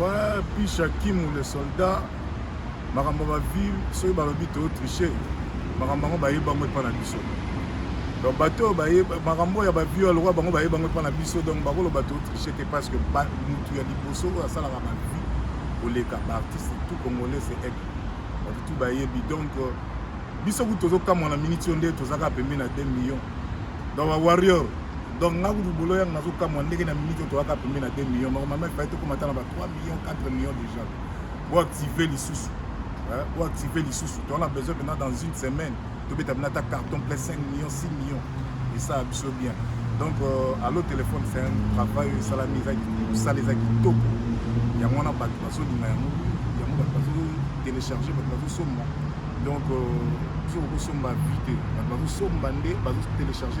wapi shakimu le soldat makambo ba vie soki balobi to triche makambo yango bayebi bango epa na biso donc bato oyo baye makambo ya bavio ya lokwa bango baye bango epa na biso donc bakoloba to triche te parce que mutu ya liboso oyo asalaka bavie koleka baartiste tout congolais se aigle bato tout bayebi donc euh, biso kutu tozokamwa na miniti oyo nde tozaka pembe na 2 millions donc bawarrior donc nga kutu bolo yango nazokamwa ndenge na minute otoyaka pembe na 2 millions normalement epai tokoma ata na ba 3 millions 4 millions déjà boactive lisusu boactive lisusu towana besoin mpena dans une semaine tobeta mpena ata carton plein 5 millions 6 millions esala biso bien donc euh, allo téléphone c'est un travail oyo esalami eza mosala eza kitoko yango wana bato bazolinga yango yango bato bazotelecharge bato bazosomba donc euh, biso kokosomba vite bato bazosomba nde bazotelecharge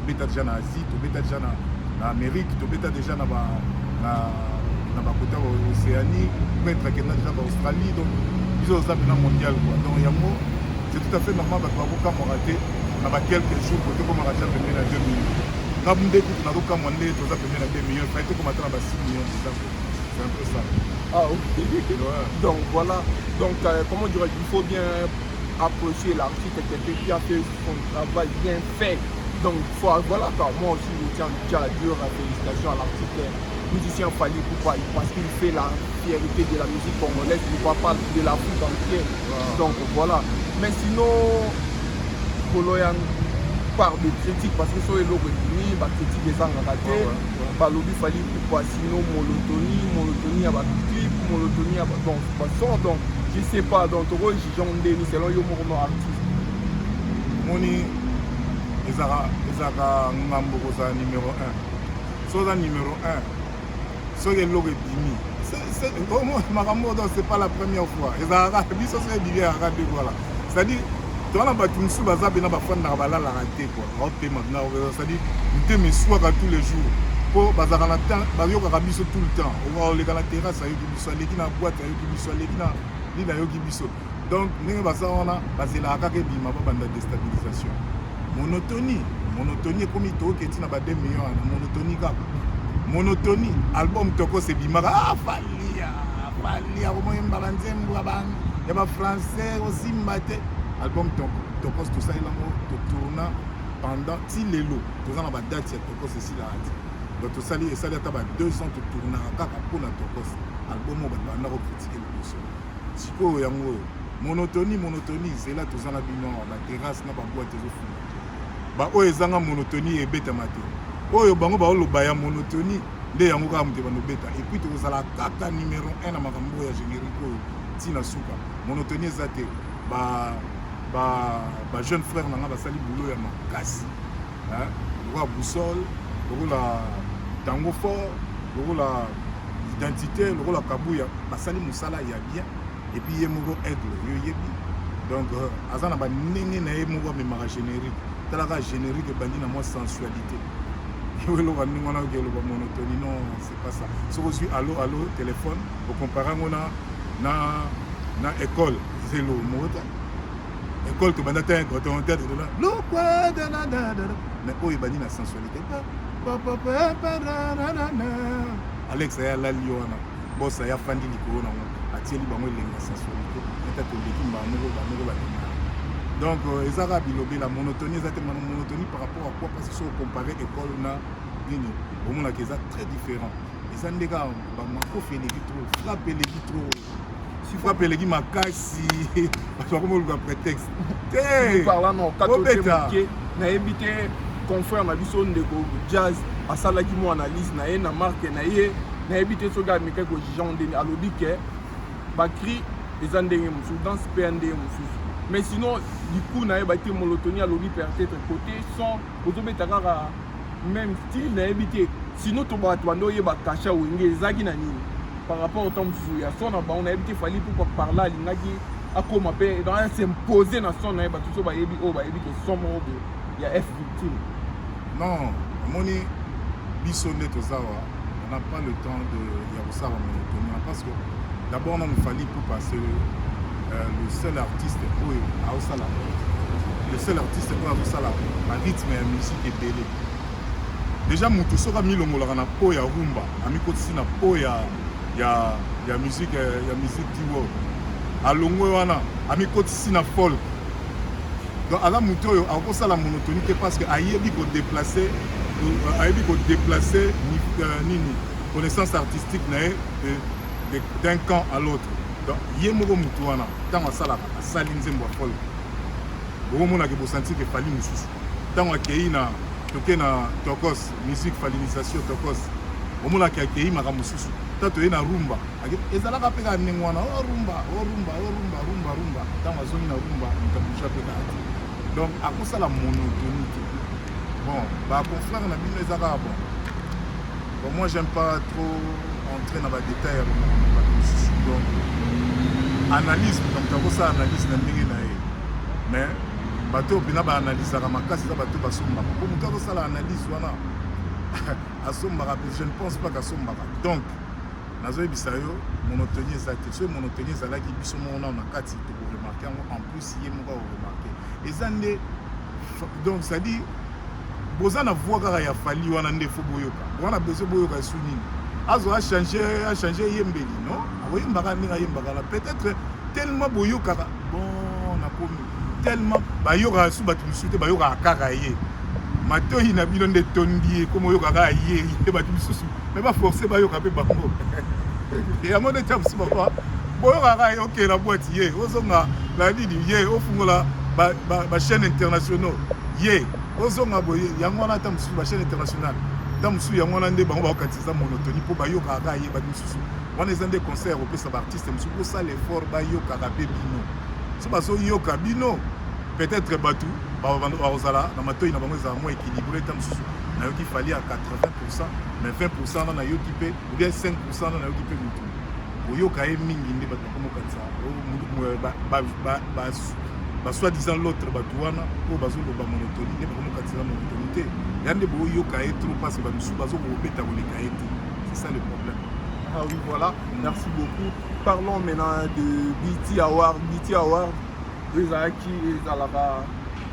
tobeta deja na asie tobeta deja na, na amérique tobeta deja na ba na, na bakota ba océanie peut-être akenda deja ba australie donc biso oza mpena mondial quoi donc yango c'est tout à fait normal bato bakokamwaka te na ba quelques jours kote komaka deja pembeni na 2 millions nga nde kutu nakokamwa nde toza pembeni na 2 millions fai tokomata na ba 6 millions deja c'est un peu ça ah ok ouais. donc voilà donc euh, comment dirais il faut bien approcher l'artiste quelqu'un qui a fait Bon travail bien fait. Donc voilà quoi, moi aussi je tiens déjà à dire félicitations à l'artiste musicien Fali Poupa parce qu'il fait la fierté de la musique congolaise, il va pas de l'Afrique entière. Donc voilà. Mais sinon, Koloyan part de critique parce que soki eloko ebimi bakritique ezangaka te balobi fali kupa sino molotoni molotoni ya baclip molotoni ya donc bason donc je sais pas donc tokoki jugeon ndeni selon yo moko no artiste omoni ezalaka ezalaka ngambo kozala numero 1 soki oza numero 1 soki eloko ebimi makambo oyo c'est pas la première fois ezalaka biso soki ebimi ezalaka te voilà c'est-à-dire toza na bato mosusu baza mpena bafandaka balalaka te kua baopema mpena osali mitema eswaka tous les jours mpo bazalaka na temps bayokaka biso tout le temps oleka na terrasse ayoki biso aleki na boite ayoki biso aleki na nini ayoki biso donc ndenge baza wana bazelaka kaka ebima babanda destabilisation monotonie monotonie ekomi toyoki etina ba 2 million wana monotonie kaka monotonie album tokos ebimaka ah, falia falia komoyemba banzembo ya bafrançais osimba te album tokos tosali yango totourna pendant ti lelo toza na badate ya tokos esilaka te donc tosali esali ata ba 2 ans totournaka kaka mpo na tokos album oyo bato banda kokritike liboso sikoyo yango oyo monotonie monotonie zela toza na bino awa baterrasse na baboite ezofuna baoyo ezanga monotonie ebetama te oyo bango baoloba ya monotonie nde yango kaka moto banobeta epuis tokozala kaka numero 1 na makambo oyo ya générique oyo ntina suka monotonie eza te ba, ba, ba jeune frère na ngai basali boulot ya makasi hein lokola boussole lokola tango fort lokola identité lokola kabuya basali mosala ya bien epuis ye moko aigle yo yebi donc euh, aza na banenge na ye moko amemaka générique talaka générique ebandi na mwa sensualité yo eloka ndenge wana oke eloba monotonie non c'est pas ça soki ozwi allo allo téléphone okompare yango na na na école zelo moko te ekole tobanda te coton tete de la lokwa de la da da da mais oyo ebandi na sensualité alex aya alali yo wana bosa ya fandi likolo nango atieli bango elengi ya sensualité ata toleki mbaa moko bamoko balinga donc euh, eza kaka bilobela monotonie eza te mana monotonie par rapport à quoi parce que soki ocompare école na nini omonaka eza très différent eza nde kaka bamakofi eleki trop frappe eleki trop si frappe eleki makasi bato bakomi koluka prétexte teobeta nayebi te confrère na biso ndeko jazz asalaki mo analyse na ye na marke na ye nayebi te soki amekaki kojugeango ndeni alobi ke bacri eza ndenge mosusu dans mpe ya ndenge mosusu mais sinon liku na ye batemolotoni alobi peut-être côté son ozobeta kaka même style nayebi te sinon to bato banda oyeba kasha wenge ezalaki na nini par rapport otan mosusu ya son na bango nayebi te fali pupa parla alingaki akoma mpe donc ya s'impose na son na ye bato so bayebi oyo bayebi ke son moko boye ya f victime non omoni biso nde tozawa on n'a pas le temps de ya kosala monotonie hein, parce que d'abord nanu fali ipupa c'est euh, le seul artiste oyo aosala le seul artiste oyo azosala barythme ya musique ebele déjà motu soki amilongolaka na po ya rumba amikotisi na po ya ya ya musique ya musique diwo alongwe wana amikotisi na folk Donc aza moto oyo akosala monotonie te parce que ayebi ko déplacer euh, ayebi ko déplacer euh, nini connaissance artistique na ye d'un camp à l'autre donc ye moko moto wana ntango asalaka asali nzembo ya folk bokomonaka bosanti ke fali mosusu ntango akei na toke na tokos musique falinisation tokos omonaka akei makambo mosusu ta toye na rumba ezalaka mpe kaka ndenge wana o rumba o rumba o rumba rumba rumba ntango azongi na rumba moto abouja mpe kaka te donc akosala monotonie te bon baconfrère na bino eza kaka bon bon moi j'aime pas trop entrer na badetail ya bato mosusu donc analyse moto akosala analyse na ndenge na ye mais bato oyo mpena baanalysaka makasi eza bato basombaka mpo moto akosala analyse wana asombaka je ne pense pas kasombaka donc nazoyebisa yo monotonie eza te soki monotonie ezalaki biso moko nao na kati tokoremarke yango en plus ye moko akoremarke eza nde donc cestadire boza na voi kaka ya fali wana nde fo boyoka wana besoin boyoka esu nini azo achange achange eyembeli non akoyembaka ndenge ayembaka na peut-être tellement boyokaka bon nakomi tellement bayokaka su bato mosusu te bayokaka kaka ye matoyi na bino nde etondi ye komo oyoka kaka ye ye bato mosusu me baforce bayoka mpe bango yango nde tya mosusu baba boyokaka ye okela bwati ye ozonga na nini ye ofungola bachaîne ba, ba internationaux ye ozonga boye yango wana ata mosusu bachaîne internationale ata mosusu yango wana nde bango bakokatisa monotoni mpo bayokaka kaka ye bato mosusu wana eza nde conseil ya kopesa baartiste mosusu bosala effort bayokaka mpe bino so bazoyoka bino peut-être bato bakozala na matoi na bango ezala moins équilibré ntango mosusu nayoki fali à 80 pourcent mais 20 pourcent na nayoki mpe ou bien 5 pourcent na nayoki mpe motu koyoka ye mingi nde bato bakomokanisa basoi-disant l'autre bato wana oyo bazoloba monotonie nde bakomokanisela monotonie te ya nde boyoka ye trop parce bamisusu bazokobeta koleka ye te c'est ça le problème ah oui voilà merci beaucoup parlons maintenant de bt award bt award ezalaki ezalaka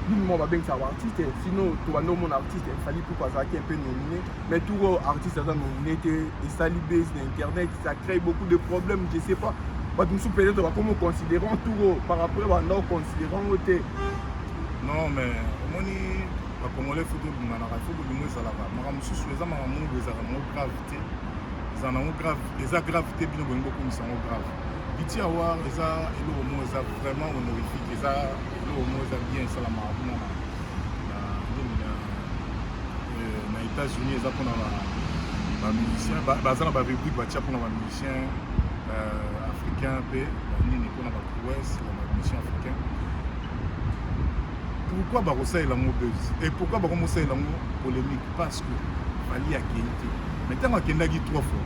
bino moko babengisaka baartiste sinon tobanda omona artiste efali puku azalaki un peu nomine mais tout oyo artiste aza nomine te esali base na internet ça crée beaucoup de problèmes je sais pas bato mosusu peut-être bakomi oconsidérant tout oyo par après banda oconsidérant ngo te non mais omoni bakongole fo tobinganaka fo bolingo ezalaka makambo mosusu eza makambo mongo ezalaka mongo grave eza nango grave eza grave te bino bolingi bokumisa yango grave piti awar eza eloko moko eza vraiment honorifique eza eloko moko eza bien esalamaka kuna na états-unis eza mpona bamusicien baza na barubrique batya mpona bamusicien euh, africain mpe banini mpona baprouesse ya bamusicien africain pourquoi bakosalela yango buzz et pourquoi bakomosalela yango polémique parce que fali akei te mais ntango akendaki trois fois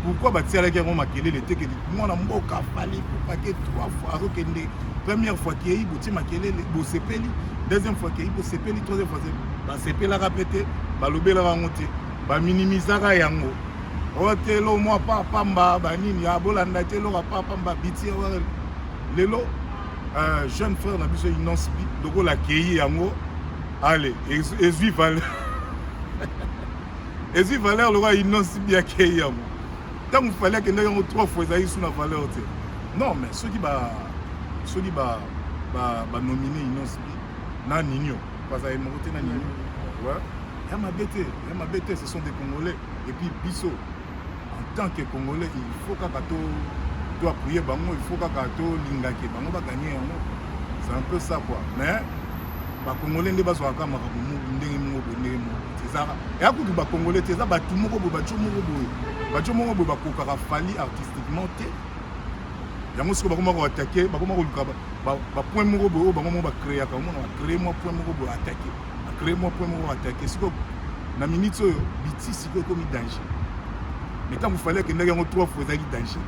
pourquoi batialaki yango makelele te kedi mwana mboka fali kopake trois fois azokende première fois kei botie makelele bosepeli deuxième fois kei bosepeli troisième fois basepelaka mpe te balobelaka yango te baminimisaka yango otelo mwa papamba banini abolanda te eloko papamba biti lelo euh, jeune frère na biso inonce bi lokola akei yango ale ezwi valeur ezwi valeur lokola inonce bi akei yango ntango fale akendaki yango trois fois ezalaki su na valeur te non mais soki ba soki ba ba banomine inonce bi na ninio baza ye moko te na ninio ya mabe te ya mabe te ce sont des congolais et puis biso En tant que Congolais, il faut kaka to to appuyer bango, il faut kaka to lingake bango ba gagner yango. C'est un peu ça quoi. Mais ba Congolais nde bazwa kaka makambo ndenge moko boye ndenge moko. C'est ça. Et à kutu ba Congolais, c'est ça ba tout moko boye, ba tout moko boye. Ba tout moko boye ba kokaka fali artistiquement te. yango sikoyo bakoma koatake bakoma koluka bapoint moko boye oyo bango moko bacreaka omona bacree mwa point moko boye atake Crée moi point moko attaquer siko na minute oyo biti siko ekomi danger mais ntango fale akendaki yango trois fois ezalaki danger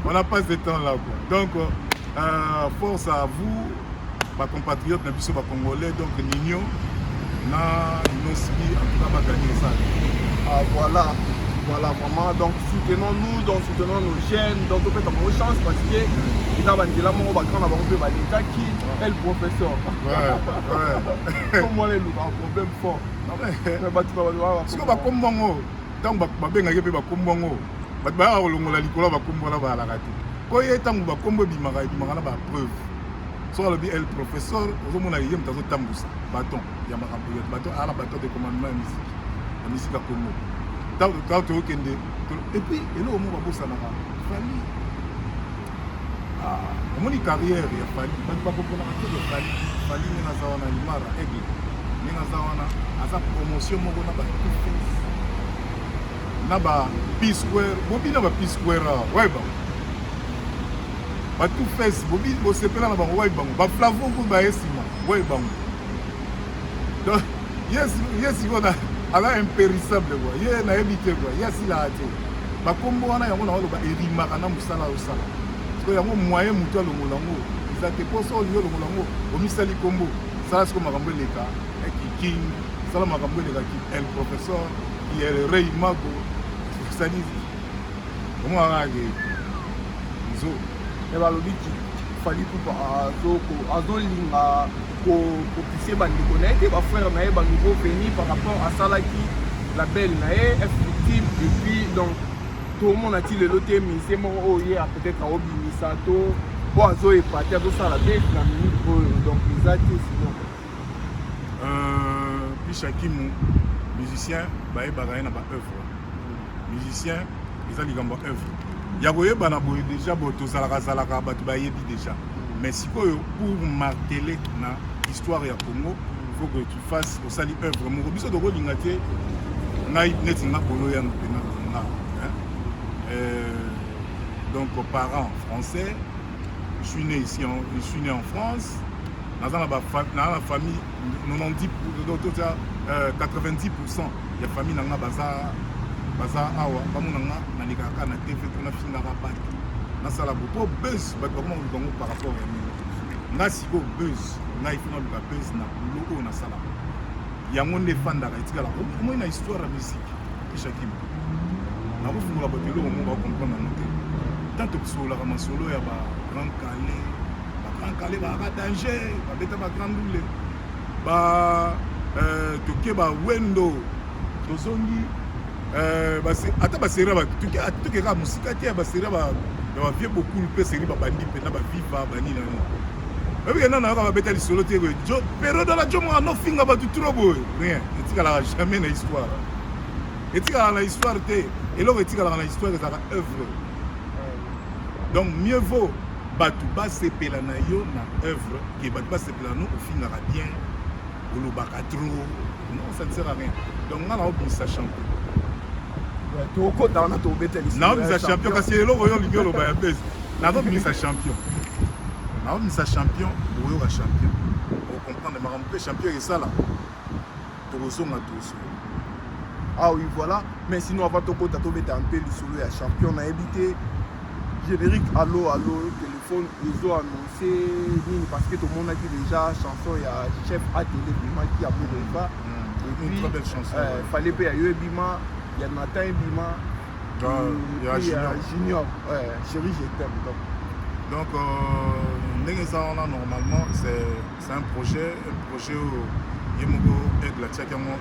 on a pas de temps là quoi donc euh, force à vous Patriote na biso ba Congolais donc Nino na Inosbi en tout cas ba gagner ça. Ah voilà. Voilà vraiment donc soutenons nous donc soutenons nos jeunes donc topesa bango chance parce que eza banzela moko bagrand na bango mpe balekaki el professeur komwana eluka problème fort bato bato bakombo yango ntango babengaki mpe bakombo yango bato bayaka kolongola likolo ya bakombo wana bayalaka te mpo ye ntango bakombo ebimaka ebimaka na bapreuve soki alobi el professeur ozomona ye moto azotambusa baton ya makambo ya baton ala baton de commandement ya misiki ya misiki ya kongo ntango toyokende epuis eloko moko babosanaka fali ah, omoni carrière ya fali bato bakoponaka te ya fali fali nde naza wana limara aigle nde naza wana aza promotion moko na bato na ba p square bobi na ba p square ah, weba ba tout face bobi bosepela na bango wayi bango ba flavo ko ba esima wayi bango donc yes yes kona ala impérissable quoi ye na ebite quoi ya sila ate ba kombo wana yango na walo ba erimaka na musala osala siko yango moyen mutu alongola ngo eza te poso olingi olongola ngo omisali kombo sala siko makambo eleka eh, kiking sala makambo eleka ki el professeur ki el rey mago osali Omona kaka ke izo e eh, balobi Fally Ipupa azolinga kopise bandeko na ye te bafrère na ye banouveau veni par rapport asalaki label na ye ftim epuis donc tomona ti lelo te mise moko oyo ye peut-être aobimisa to mpo azo epate azosala te na minute oyo donc eza te sinon euh, pishakimu musicien bayebaka ye na baœuvre musicien eza likambo ya œuvre ya koyebana boye deja bo tozalakazalaka bato bayebi deja mais sikoyo pour martele na histoire ya congo faut que tu fasses osali œuvre moko biso tokolinga te ngai neti nga kolo ya mpena nga donc parent français je suis né ici en, je suis né en France naza na famille 90 90% ya famille na nga baza baza awa bamona nga nalekaka kaka na tv mpo nafingaka bato nasala bo mpo buzz bato bakoma koluka yango par rapport ya nini nga sikoyo buzz ngai fo naluka buzz na bulo oyo nasalaka yango nde efandaka etikala omoi na histoire ya musike eshakima nakofungola bato eloko moko bakomprendre yango te ntanto tosololaka masolo ya ba grand kale ba grand kale baka danger babeta ba grand dule ba euh, tokeba wendo tozongi euh, ata baseri tokeka mosika te ya baseri ya bavie bokulu mpe seri babandi mpe na baviva banini na nini oyebi kenda nayoka babeta lisolo te boye periode ala jomo anofinga bato tro boye rien etikalaka jamais na histoire etikalaka na histoire te eloko etikalaka na histoire ezalaka œuvre donc mieux vaut bato basepela na yo na œuvre ke bato Lano ofingaka bien olobaka trop non ça ne sert à rien donc nga naobimisa champion tokota wana tobeteli naobimisa champion kasi eloko oyo olingi oloba ya base nazobimisa champion naobimisa champion oyoka champion okomprendre makambo mpe champion esala tokozonga tozonga ah oui voilà mais sinon avant tokota tobeta mpe lisolo ya champion nayebi te générique allo allo téléphone ezo annonce nini parce que tomonaki déjà chanson ya chef atele bimaki ya borefa euh, fallait mpe ya yo ebima ya natan ebima ya junior chéri je t'aime donc donc euh, ndenge eza wana normalement c'est C'est un projet, un projet oyo ye moko aigle atiaki yango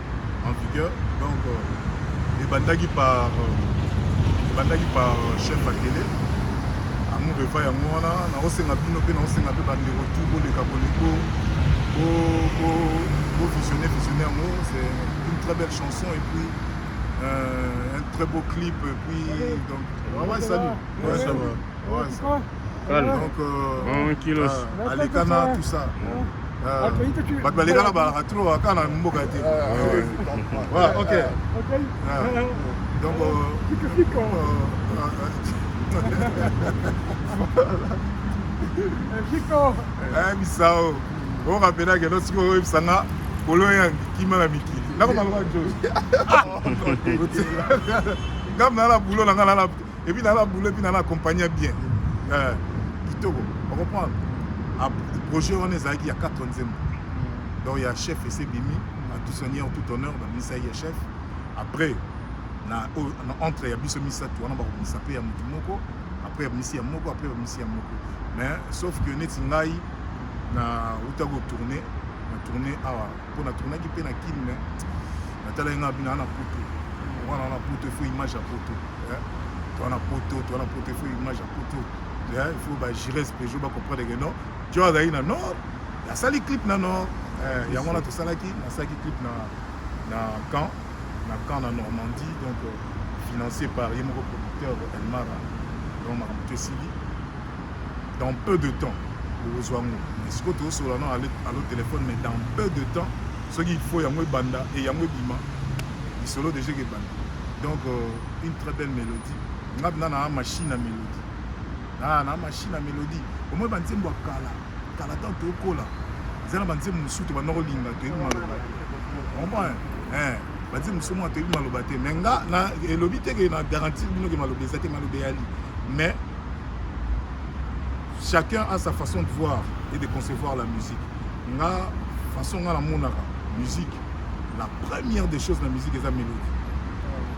en vigueur donc euh, ebandaki par euh, ebandaki par euh, chef akele amour eva yango wana naosenga bino mpe naosenga mpe bandeko tu boleka koleko bovisionne visionne yango c'est une très belle chanson et puis euh, un très beau clip et puis donc ouais, ouais salut ouais, ça va ouais, ça va. Calme. Donc, euh, Bon, kilos. euh, Alikana, tout ça. Euh, bato baleka na balaka tro kaka na mboka te voilà ok Ah. donc euh, euh, eh, misao orapelake no sikoyo oyebisa nga kolo ya kima na mikili nakoma loka jo ngambo nala bulo na nga nala Et puis naba boulot puis naba accompagner bien. Mm. Euh, kitoko. On comprend. A ah, projet on est zaki ya 4 nzembo. Mm. Donc ya chef et c'est Bimi, à tout seigneur, tout honneur, ba misa ya chef. Après na, oh, na entre ya biso misa tu wana ba ko misa pe ya mutu moko, après ya misa ya moko, après ya misa ya moko. Mais sauf que neti ngai na uta ko tourner, na tourner awa mpo na tournaki mpe na kin me natalaki nga bina na poto wana na poto ifo image ya poto eh, toa na poto toa na poto ifo image ya poto eh, ifo bagirese pejo bacomprendre ke non jo azali na nord asali clip na nord eh, yango wana tosalaki nasalaki clip na na camp na camp na normandie donc euh, financé par ye moko producteur elmara donc makambo to esili dans peu de temps bokozwa yango mais sikoyo tozosola na alo telefone mais dans peu de temps soki il faut yango ebanda e yango ebima lisolo deja ekebanda donc euh, une très belle mélodie nga mpenza naa machine ya mélodie naa naa machine ya mélodie omoi banzembo ya kala kala ntango tokola eza na banzembo mosusu te banda kolinga toyebi maloba comprendre eh, banzembo mosusu mwa toyebi maloba te mais nga elobi te ke na garantie bino ke maloba eza te maloba eyali mais chacun a sa façon de voir et de concevoir la musique nga façon nga namonaka musique la première des choses na musique eza mélodie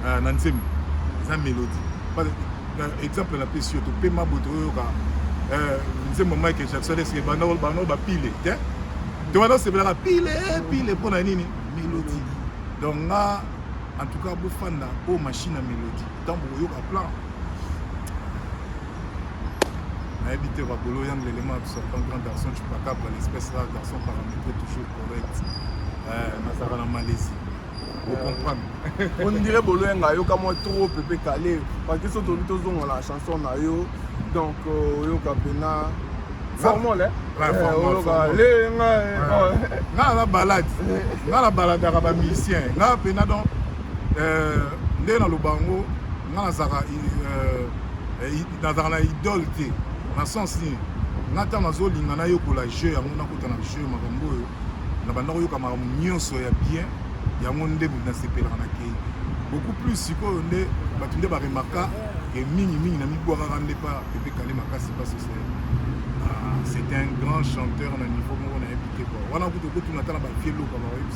euh, na nzembo eza mélodie exemple napesi yo topema boye toyoyoka euh, nzembo michael jackson eske banao bapile te to wana osepelaka pile pile mpo na nini mélodie donc nga en tout cas bofanda oyo machine ya mélodie ntango bokoyoka plan nayebi te bakolo yang lelema absorban grand garçon chupacabra l'espèce rare garçon paramétré toujours correct euh, nazalaka na malaisie ocomprendre euh, ondire bolo yanga ayoka mwa trop pepe kale paki so toli tozonga na chanson na yo donc euh, oyoka mpena formol lenga nga na balade nga na baladaka bamusicien nga mpena donc Euh, nde naloba yango nga nazalaka euh, eh, nazalaka na idole te na sens nini nga ntango nazolinga nayokola jeu yango nakota na jeu makambo oyo na banda koyoka makambo nyonso ya bien yango nde nasepelaka na kei beaucoup plus sikoyo nde bato nde baremarka e mingi mingi na mibwakaka nde pa pepe kale makasi parce que ah, c'est un grand chanteur na niveau moko nayebi te kua wana kutu okotuna ata na bavie loka baoyebi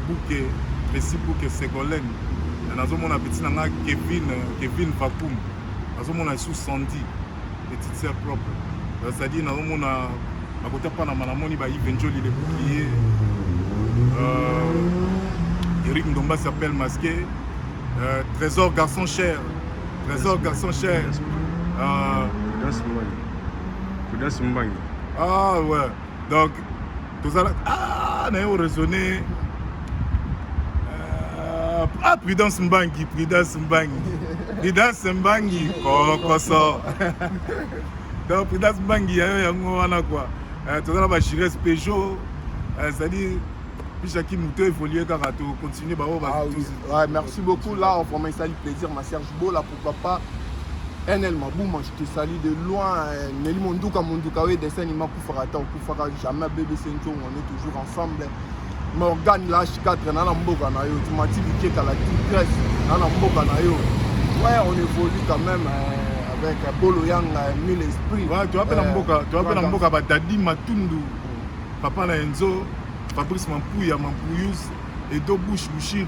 Buke Messi Buke Segolène eh, nazomona petit na nga Kevin eh, Kevin Vakum nazomona sous Sandy petite sœur propre eh, c'est-à-dire nazomona bakota panama namoni ba Yves Njoli le bouclier euh, Eric Ndomba s'appelle masqué euh, Trésor garçon cher Trésor garçon cher euh, Kudas Mbangi Kudas Mbangi ah ouais donc tozala ah, naye oraisonne euh, ah prudence mbangi prudence mbangi prudence mbangi kokoso donc prudence mbangi yayo yango wana kua euh, toza na bajures pejo ezali euh, Bicha qui moutou évolue car à tout continuer bah oh bah. Ah merci beaucoup là on ça du plaisir ma Serge Beau là Papa NL Mabuma, je te salue de loin. Nelly Monduka Monduka, oui, dessin anima Koufara Tao Koufara, jamais bébé Sencho, on est toujours ensemble. Morgan H4, nana mboka na yo, tu m'as dit que t'as la tigresse, nana mboka na yo. Ouais, on évolue quand même. Euh, avec bolo yanga mille esprit ouais, tu appelles euh, mboka tu appelles mboka ba dadi matundu papa na enzo fabrice mampuya mampuyus edo bush bushiri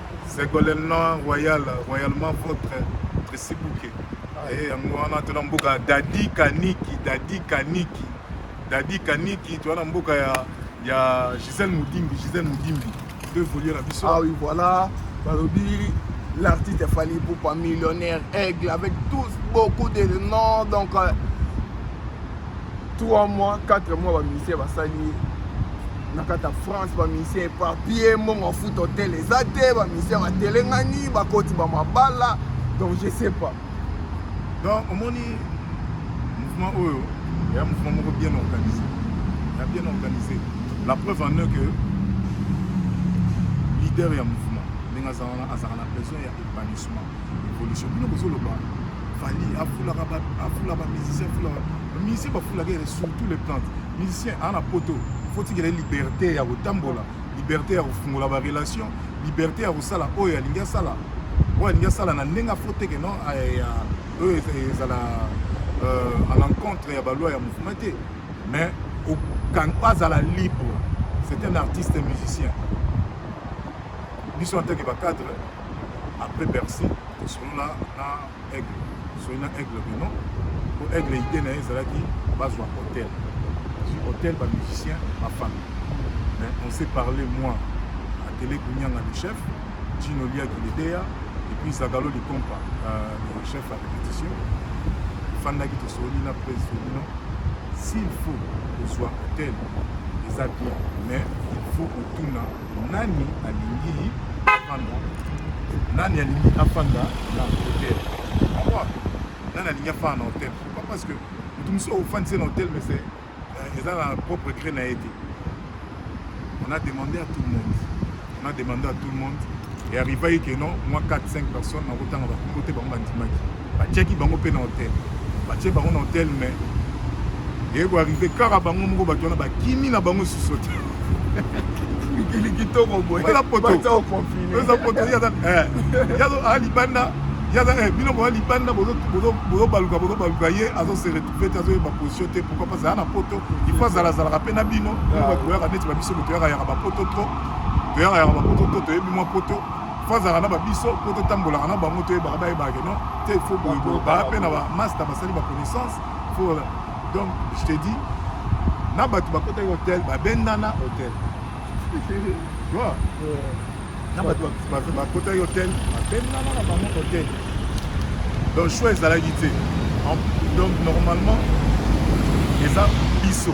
Segolena Royal, royalement votre Tracy Bouke. Eh, yango wana tona mboka Dadi Kaniki, Dadi Kaniki. Dadi Kaniki, tona mboka ya ya Gisèle Moudimbi, Gisèle Moudimbi. Deux voleurs à Bissau. Ah oui, voilà. Balobi l'artiste Fally Poupa millionnaire aigle avec tous beaucoup de noms donc euh, 3 mois 4 mois bamusicien basali ye na kati ya france bamusicien epapie mbongo afuta hotel eza te bamusicien batelengani bakoti bamabala donc je sais pas donc omoni mouvement oyo ya mouvement moko bien organisé ya bien organisé la preuve en est que leader ya mouvement ndenge azalaka na besoin ya épanouissement evolution bino bozoloba fali afulaka afula ba musicien afula ba musicien bafulaka ere sur tous les plans musicien ana poto fotikela liberté ya kotambola liberté ya kofungola ba relation liberté ya kosala oyo alingi asala oyo alingi asala na ndenge afoteke no eh, oyo ezala euh, à l'encontre ya baloi ya mouvement te mais azala libre c'est un artiste musicien biso en tant que bacadre après bercy tosolola na aigle tosoli na aigle bino po aigle idée na ye ezalaki bazwa hotel azwi hotel bamusicien bafami mais on s'est parlé moi atele kunyanga le chef jino liaki ledeya et puis zagalo likompa euh, le chef à répétition efandaki tosoli na presi bino s'il faut kozwa hotel eza bien mais il faut kotuna Nani alingi afanda? Nani alingi afanda na hotel? Pourquoi? Nani alingi afanda na hotel? Pourquoi? Parce que mutu mosusu ofandisa na hotel mais c'est euh, eza na propre gré na ye te. On a demandé à tout le monde. On a demandé à tout le monde et arriva ye que non, moi 4 5 personnes nakotanga bakombo te bango bandimaki. batiaki bango mpe na hotel batie bango na hotel mais eye koarrive kaka bango moko bato wana bakimi na bango susu te mikili kitoko boyeeza potoyaa libanda yaza bino boya libanda bozobaluka bozobaluka ye azose retrouve te azoyeba position te pourkoi pas aya na poto ifo azalazalaka mpe na bino bato boyaka neti babiso moto yaka yaka bapoto trop toyaka yaka bapoto trop toyebi mwa poto fazaka na babiso mpo totambolaka na bango toyebaka bayebaka no te fo boyeboye baa mpe na bamasta basali baconnaissance fo donc je te dis na bato bakotaki hotel babendana hotel na bato bakotaki hotel babendana na bango hotel donc choix ezalaki te donc normalement eza biso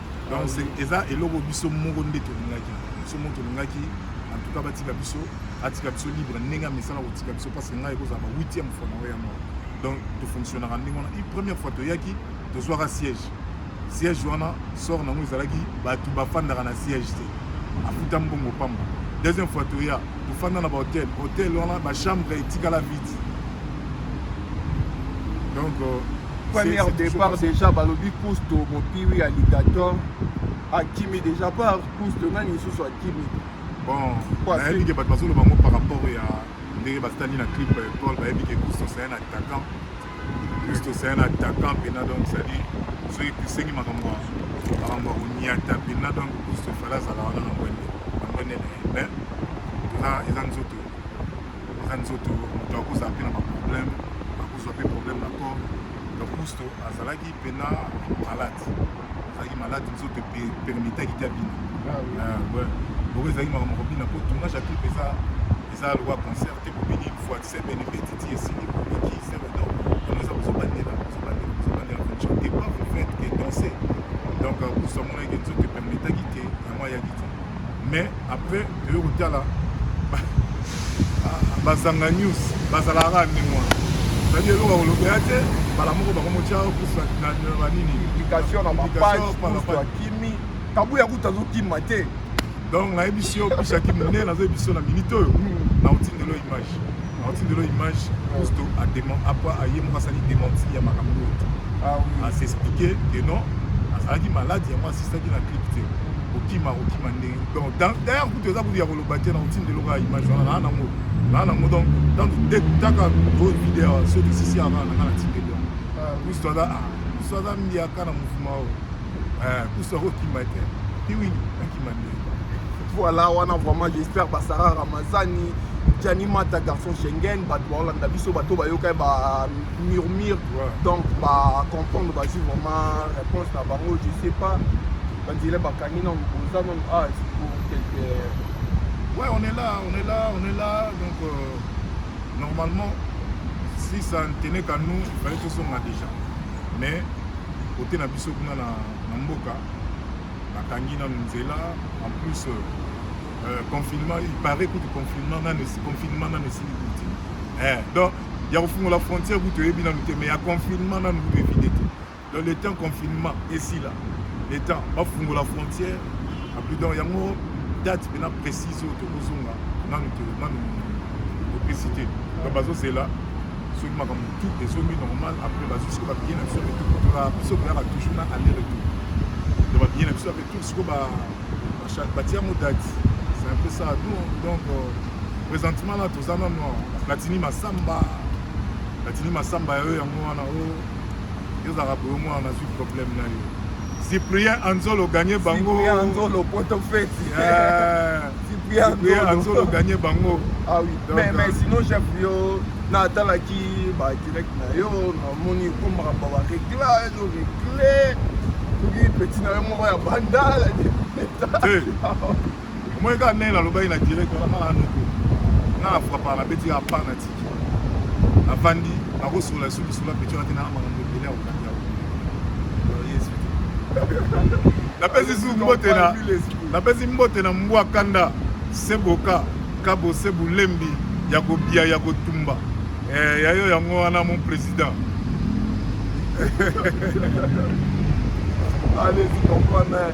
donc eza eloko biso moko nde tolingaki biso moko tolingaki en tout cas batika biso atika biso libre ndenge amesana kotika biso parce que ngai ekozala ba 8e fois na oya moko donc tofonctionnaka ndenge wana une première fois toyaki tozwaka siège siège wana sort nango ezalaki bato bafandaka na siège te afuta mbongo pamba deuxième fois toya tofanda na bahotel hotel wana bachambre etikala vide donc euh, premier départ déjà balobi kusto mopiwi alligator akimi déjà par kusto nani lisusu akimi bon nayebi ke bato bazoloba yango par rapport ya ndenge basali na clip euh, paul bayebi ke kusto c'est un attaquant kusto c'est un attaquant mpena donc cestadire soki kusengi makambo makambo ya konyata mpena donc kusto fala azala wana na ngwende na ngwende na ye mais eza nzoto Eza nzoto moto akozala mpe na baproblème akozwa mpe problème na corps donc kusto azalaki mpena malade azalaki malade nzoto permitaki te abina bongo ezalaki makambo kobina mpo tournage ya clip eza eza lokwa concert te kobini fois semaine petiti esili kobiki semaine donc ono eza kozobandela kozobandela kozobandela chante pas vous faites que danser donc kusto amonaki nzoto permitaki te yango ayaki te mais après toye kotala bazanga news bazalaka kaka ndenge wana ezali eloko ya kolobela te mbala moko bakomotya kusa na banini publication na bapagekimi tabu ya kutu azokima te donc nayebisi yo pisaki monene nazoyebisi yo na minute oyo hmm. na otindelo image Otindelo image Cousto a demande apa aye moko asali dementi ya makambo oyo te. Ah oui. A s'expliquer que non azalaki malade yango asistaki na clip te. Kokima kokima ndenge. Donc d'ailleurs kutu eza kutu ya koloba te na otindelo ka image wana na nango. Na nango donc dans de taka go video so de sisi ava na kana tindelo. Cousto aza ah Cousto aza mbiaka na mouvement oyo. Eh Cousto akokima te. Piwini akima ndenge. Voilà, wana vraiment j'espère ba Sarah Ramazani, Gianni Mata, garçon Schengen, ba Holanda biso bato ba yoka ba murmure. Donc ba comprendre ba ju vraiment réponse na bango, je sais pas. Ba dire ba kangi na boza non ah c'est pour quelque Ouais, on est là, on est là, on est là. Donc euh, normalement si ça ne tenait qu'à nous, il fallait que ce soit déjà. Mais côté na biso kuna na, na mboka bakangi nanu nzela en plus euh, euh confinement il paraît kutu confinement nanu confinement nanu esili kuti eh, donc ya kofungola frontière kutu oyebi nanu te mais ya confinement nanu kutu evide te donc le temps confinement esila le temps bafungola frontière apui donc yango date mpena précise oyo tokozonga nanu te nanu opesi te donc bazozela soki makambo tout ezongi normal après bazwi siko babiye na biso ya retour mpona biso koyaka toujours na aller retour donc babiye na biso ya retour siko batia yango date c'est un peu ça nous donc euh, présentement là toza nano platini masamba platini masamba ya oyo yango wana o oh, ezalaka boyo mwana nazwi problème na yo cyprien anzolo gagne bango cyprien anzolo poto feti eh. Cyprien Anzolo gagné bango. Ah oui. Donc, mais, mais euh, sinon chef yo na atalaki ba direct na yo na moni komaka ba ba regla ezo regle soki petit na yo moko ya bandala moi kaka ndenge nalobaki na direct wana nana noko nana frapaka nabeti ya panati bavandi bakosolola lisusu lisolo ya pecho ate na makambo ebele ya kolanda napesi su mbote na napesi mbote na mbwa kanda seboka kabo sebulembi ya kobia ya kotumba eh, yayo yango wana mon président allez-y comprendre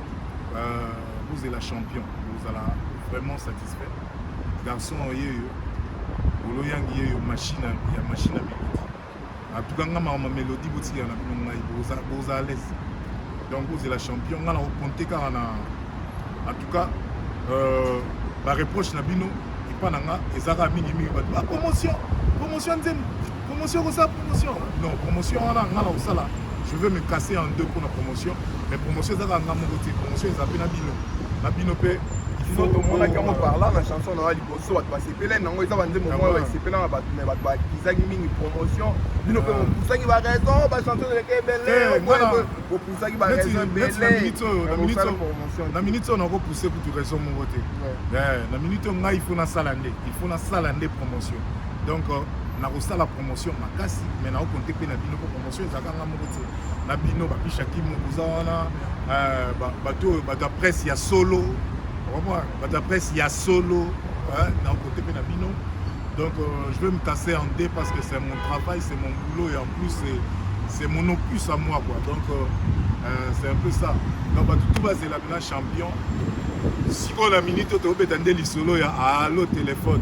vous êtes la champion bozala vraiment satisfait garçon yeyo bolo yangi yeyo machine ya machine ya melodi atuka nga mama melodi botikela na bino ngai boza à l'aise donc vous êtes la champion nga na kokonte kaka na en tout cas euh, bareproche na bino epa na nga eza kaka mingimingi bato bapromotion promotion nzembo Promotion kosala promotion. Non, promotion wana nga na kosala je veux me casser en deux pour la promotion mais promotion ezaka nga moko te promotion eza mpe na bino na bino mpe tomonaki yango parla na chanson na yo liboso bato basepelani yango eza banzembo moko basepela na bato me bato bakizaki mingi promotion bino mpe bopusaki baraison bachanson eleke ebelebopusaki baraisona minute oyo nakopuse kutu raison moko te na minute oyo ngai ifo nasala nde ifo nasala nde promotion donc euh, nakosala promotion makasi me naokonte mpe na bino mpo promotion ezalaka nga moko te na bino bapishakimu koza wana euh, bato oyo bato ya presse ya solo bato ya presse ya solo naokonte mpe na bino donc euh, je vais me casser en deux parce que c'est mon travail c'est mon boulot et en plus c'est c'est mon opus à moi quoi donc euh, euh, c'est un peu ça donc bato tout bazela mina champion sikoyo na minute oyo tobeta nde lisolo ya alo telefone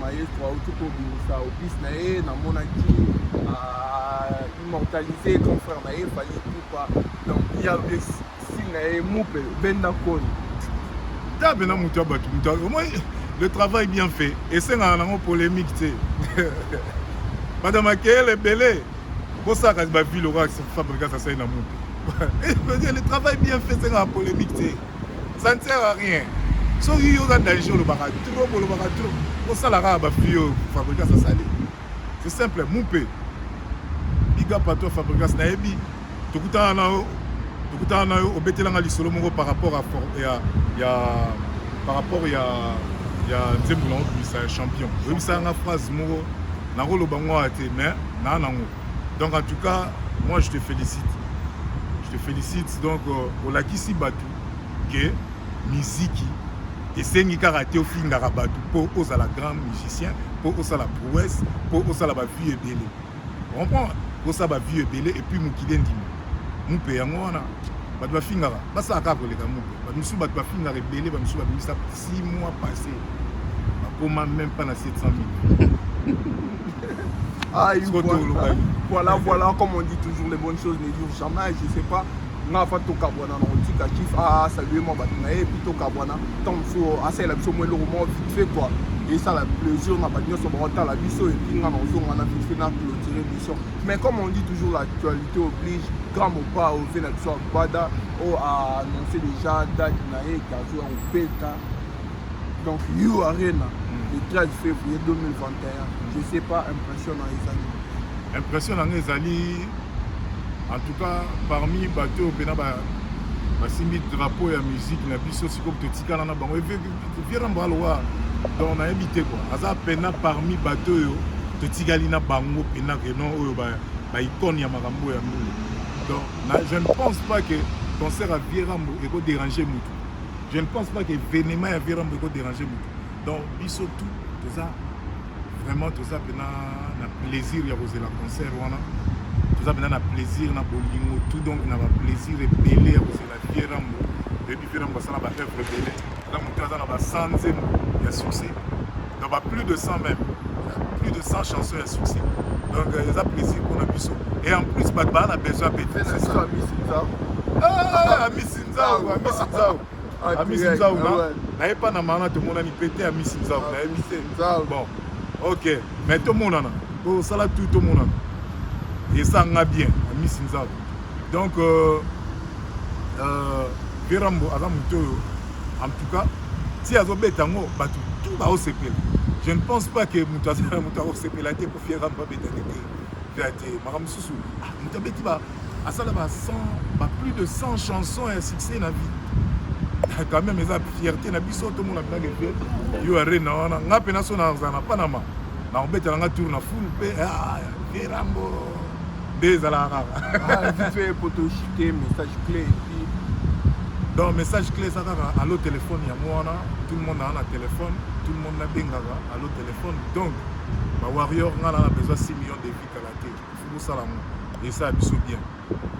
maestro auti kobimisa opus na ye namonaki ah, immortalise grand frère na ye fali pupa donc ya style na ye mupe benda koni ta pena moto ya bato moto omoi le travail bien fait esengaka nango polémique te banda makeyele ebele bosalaka bavile okaa fabricas asali na mupe le travail bien fait esengaka polémique te ça ne sert à rien soki yo oza danger olobaka trop olobaka trop osala kaka bafille oyo fabricas asali c'est simple mumpe biga pato ya fabricas nayebi tokutana na yo tokutana na yo obetelanga lisolo moko par rapport ya, ya, ya par rapport ya ya nzembo na obimisa ya champion oyebisaka nga phrase moko nakoloba ngo awa te mais naa nango donc en tout cas moi je te félicite je te félicite donc euh, olakisi bato ke miziki esengi kaka te ofingaka bato mpo ozala grand musicien mpo osala prouesse mpo osala bavie ebele comprendre kosala bavie ebele epuis mokili endima mupe yango wana bato bafingaka basalaka kaka koleka mupe bato mosusu bato bafingaka ebele bato mosusu babimisa 6 mois passé bakoma même pas na 700 000 Aïe, voilà, voilà, voilà, comme on dit toujours, les bonnes choses ne durent jamais. Je sais pas, nga afa tokabwana na kotika kif asalue mwa bato na ye epuis tokabwana ntango mosusu asalela biso mwa eloko moko vite fait quoi esala plaisir na bato nyonso bakotala biso epuis nga na kozonga na vite fait na clôture émission mais comme on dit toujours l'actualité oblige grand mopa ove na biso agbada oyo a annonce déjà date na ye ete azoya kobeta donc yo arena le 13 février 2021 je sais pas impression na ezali impression na ngai ezali en tout cas parmi bato oyo mpena basimbi drapeau ya musique na biso sikoyo totikala na bango viera mbalowa donc nayebi te kua aza mpena parmi bato oyo totikali na bango mpena renon oyo baicone ya makambo ya mbulu donc Na, je ne pense pas que concert ya Vierambo eko déranger mutu. Je ne pense pas que événement ya Vierambo eko déranger mutu. Donc biso tout toza vraiment toza pena na plaisir ya kozela concert wana. Toza pena na plaisir na bolingo tout donc na ba plaisir ebele ya kozela Vierambo. Ebi Vierambo asala ba œuvre ebele. na moto aza na ba 100 nzembo ya succès na ba plus de 100 même plus de 100 chansons ya succès donc euh, eza plaisir mpona biso et en plus bato baa na besoin mpe amisi nzau amisi nzau amisi nzau naye mpa na maana tomonani mpe te amisi nzau nayebi te bon ok mais tomonana tosala tout tomonana esanga bien amisi nzau donc euh, euh, verambo aza moto oyo en tout cas ti azobeta yango bato tout baosepela je ne pense pas que moto azala moto akosepela te po verambo abeta te te vea te makambo mosusu ah, moto abeti ba asala ba 100 ba plus de 100 chansons ya succès na vie ah, quand même eza fierté na biso tomona mpinake te yo arena wana nga mpe naso nazala na panama nakobetela nga tour na ful mpe ah, verambo nde ezalaka kaka ah, vite fait poto chute message clé et puis donc message clé eza kaka allo téléphone yango wana tout le monde aa na téléphone tout le monde nabengaka allo téléphone donc bawarrior ngai naa na besoin 6 millions de vie kala te fokosala yango esa biso bien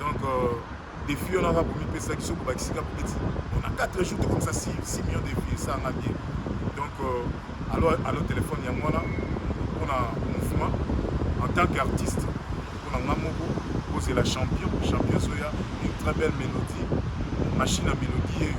donc euh, defi wana kaka bomipesaki soki obakisi kaka peti na 4 jours tokomisa 6 millions de vie esanga bien donc euh, alo alo telefone yango wana mpona mouvement en tant qu'artiste mpona nga moko kozela champion champion ezoya une très belle mélodie machine ya mélodie yeyo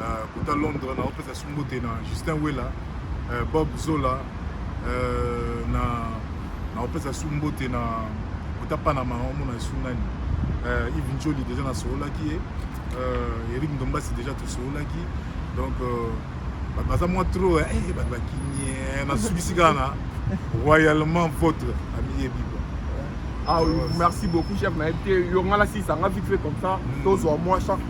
euh, kota londres naopesa su mbote na justin wela euh, bob zola euh, na naopesa su mbote na kota panama omona su nani ive njoli deja nasoolaki ye eric ndombasi deja tosoolaki donc bato baza mwa trop eh, eh, bato bakimie eh, nasukisi kaka na royalement votre amiyebi Ah oui, merci beaucoup, chef. Yo, on a la 6, on a vite fait comme ça. Tous au moins, chaque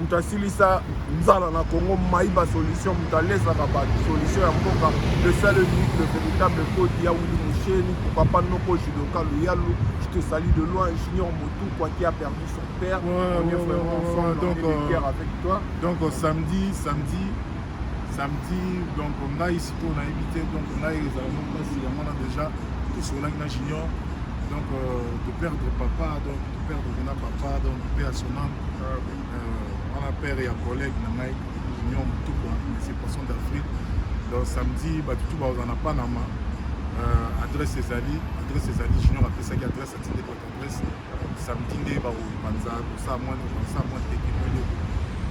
moto asilisa nzala na congo mayiba solution moto alesaka bato solution ya mboka le seul unique le véritable kodi ya wili musheni papa noko judoka luyalu je te salie de loin junior motu kwaki a perdu son père ouais, on est vraiment ouais, ensemble donc, on est euh, avec toi donc euh, samedi samedi samedi donc ngai sikoyo nayebi te donc ngai ezala mo mpasi yango na déjà tosololaki na junior donc euh, de perdre papa donc père de na papa donc père à son âme euh, wana père ya collègue na ngai union mutukwa monsieur poisson d'afrique donc samedi bato tu baoza na panama euh, adresse ezali adresse ezali junior apesaki adresse atindeli bato adresse samedi nde bakopanza kosala mwa kosala mwa tekino eloko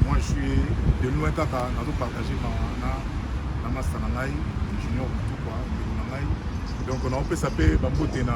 moi je suis de loin kaka nazopartage na na masta na ngai junior mutukwa ndeko na ngai donc naopesa mpe bambote na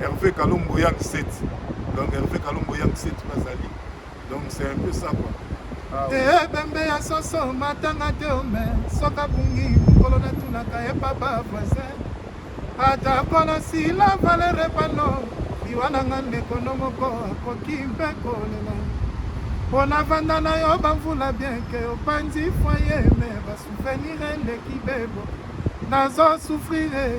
Hervé Kalombo Yang Set. Donc Hervé Kalombo Yang Set bazali. Donc c'est un peu ça quoi. Ah, oui. Eh, bembe ya soso matanga te ome soka bungi mokolo natunaka ye papa voisin ata kola sila valere pano liwa na nga ndeko no moko akoki mpe kolela mpo navanda na yo bamvula bienke opanzi foye me basuvenire eleki bebo nazo sufrire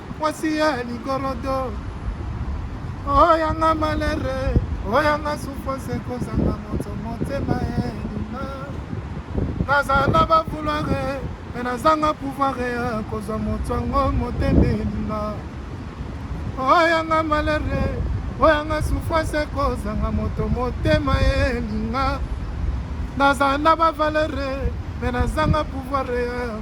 mwasi ya ligorodo oyanga malere oyanga souffrance ekozanga moto motema elima nazala bavulare me nazanga pouvoir ya kozwa moto yango motema elima oyanga malere oyanga souffrance ekozanga moto motema elinga nazala na bavalere me nazanga pouvoir ya